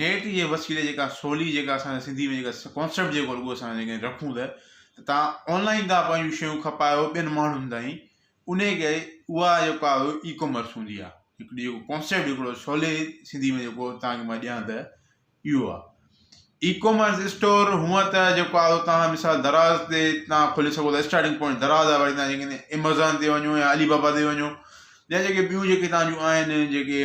net جي وسيلي جيڪا سولي جيڪا اسان جي سنڌي ۾ جيڪا ڪانسيپٽ جيڪو رڳو اسان جيڪي رکون ته ته تان آنلائين تان پنهنجون شيون کپايو ٻين ماڻهن تائين ان کي اها جيڪا اي ڪامرس هوندي آهي هڪڙي جيڪو ڪانسيپٽ هڪڙو سولي سنڌي ۾ جيڪو تانکي مان ڏيان ته اهو آهي اي ڪامرس اسٽور هونء ته جيڪو آهي اهو تان مثال دراز تي تان کولي سگهو ٿا اسٽارٽنگ پوائنٽ دراز آهي وري تان جيڪي ايمازان تي وڃو يا علي بابا تي وڃو يا جيڪي ٻيون جيڪي تان جون آهن جيڪي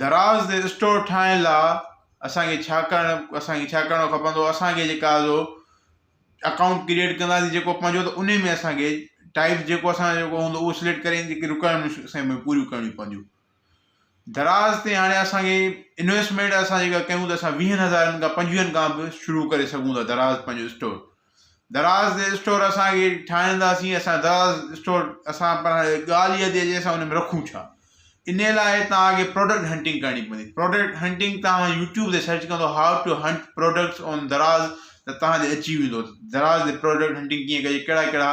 دراز تي اسٽور ٺاهڻ لا اسان کي ڇا ڪرڻ اسان کي ڇا ڪرڻو کپندو اسان کي جيڪا جو اڪائونٽ ڪريئيٽ ڪنداسين جيڪو پنهنجو ته انهي ۾ اسان کي ٽائيپ جيڪو اسان جو جيڪو هوندو اهو سليڪٽ ڪري جيڪي رڪوائرمينٽس اسان کي پوريون ڪرڻيون پونديون دراز تي هاڻي اسان کي انويسٽمينٽ اسان جيڪا ڪيون ته اسان ويهن هزارن کان پنجويهن کان به شروع ڪري سگهون ٿا دراز پنهنجو اسٽور دراز دي اسٽور اسان کي ٺاهرائينداسين اسان دراز اسٽور اسان پر ڳالهه اها ٿي اچي اسان ان ۾ رکون ڇا ان لاء توهان کي پروڊڪٽ هنٽنگ ڪرڻي پوندي پروڊڪٽ هنٽنگ توهان يوٽيوب تي سرچ ڪندو how to hunt products on Daraz ته توهان تي اچي ويندو دراز تي پروڊڪٽ هنٽنگ ڪيئن ڪجي ڪهڙا ڪهڙا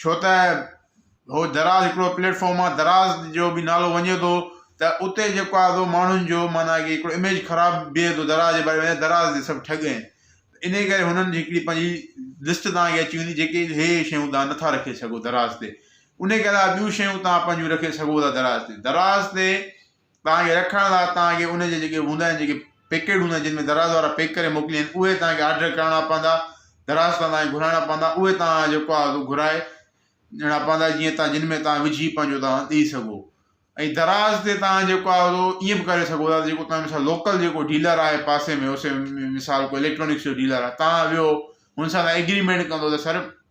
ڇو ته هو دراز هڪڙو پليٽ فارم آ دراز جو به نالو وڃي ٿو ته اتي جيڪو آ سو ماڻهن جو معنيٰ ڪي هڪڙو اميج خراب بيهي ٿو دراز جي باري ۾ دراز جي سڀ ٺڳ آهن ان جي ڪري هنن جي هڪڙي پنهنجي لسٽ تان اچي ويندي جيڪي هي هي شيون تان نٿا رکي سگهو دراز تي ان جي علاوه ٻيون شيون تان پنهنجون رکي سگهو ٿا دراز تي دراز تي تان کي رکڻ لاء تان کي ان جي جيڪي هوندا آهن جيڪي پيڪيٽ هوندا آهن جن ۾ دراز وارا پيڪ ڪري موڪليندا آهن اهي تان کي آرڊر ڪرڻا پوندا دراز تان تان کي گهرائڻا پوندا اهي تان جيڪو آهي سو گهرائي ڏيڻا پوندا جيئن تان جن ۾ تان وجهي پنهنجو تان ڏئي سگهو ۽ دراز تي تان جيڪو آهي سو ائين به ڪري سگهو ٿا جيڪو تان مثال لوڪل جيڪو ڊيلر آهي پاسي ۾ مثال ڪو اليڪٽرانڪس جو ڊيلر آهي تان ويو هن سان تان ايگريمينٽ ڪندو ته سر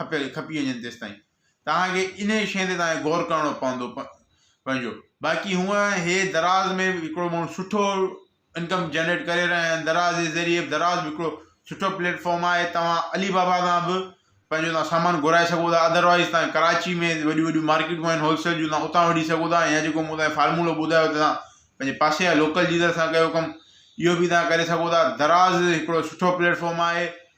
کپي کپي وڃن تيستائين توهان کي انهي شيء تي توهان کي غور ڪرڻو پوندو پنهنجو باقي هونء هي دراز ۾ به هڪڙو ماڻهو سٺو انڪم جنريٽ ڪري رهيا آهن دراز جي ذريعي دراز به هڪڙو سٺو پليٽ فارم آهي توهان علي بابا تان به پنهنجو توهان سامان گهرائي سگهو ٿا اڌر وائيز توهان ڪراچي ۾ وڏيون وڏيون مارڪيٽون آهن هول سيل جون توهان اتان وٺي سگهو ٿا يا جيڪو مون توهان کي فارمولو ٻڌايو ته توهان پنهنجي پاسي جا لوڪل ڊيلر سان ڪيو ڪم اهو به توهان ڪري سگهو ٿا دراز هڪڙو سٺو پليٽ فارم آهي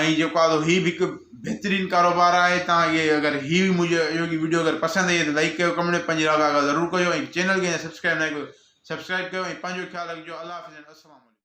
۽ جيڪو آھي سو ھي به ھڪ بھترين ڪاروبار آھي تھان کي اگر ھي به مجھي اھڙي ڪي ويڊيو اگر پسند آئي آھي ته لائڪ ڪيو ڪمينٽ ۾ پنھنجي راء ضرور ڪجو ۽ چينل کي اڃا سبسڪرائب ناھي ڪيو سبسڪرائب ڪيو ۽ پنھنجو خيال رکجو الله حافظ السلام عليڪم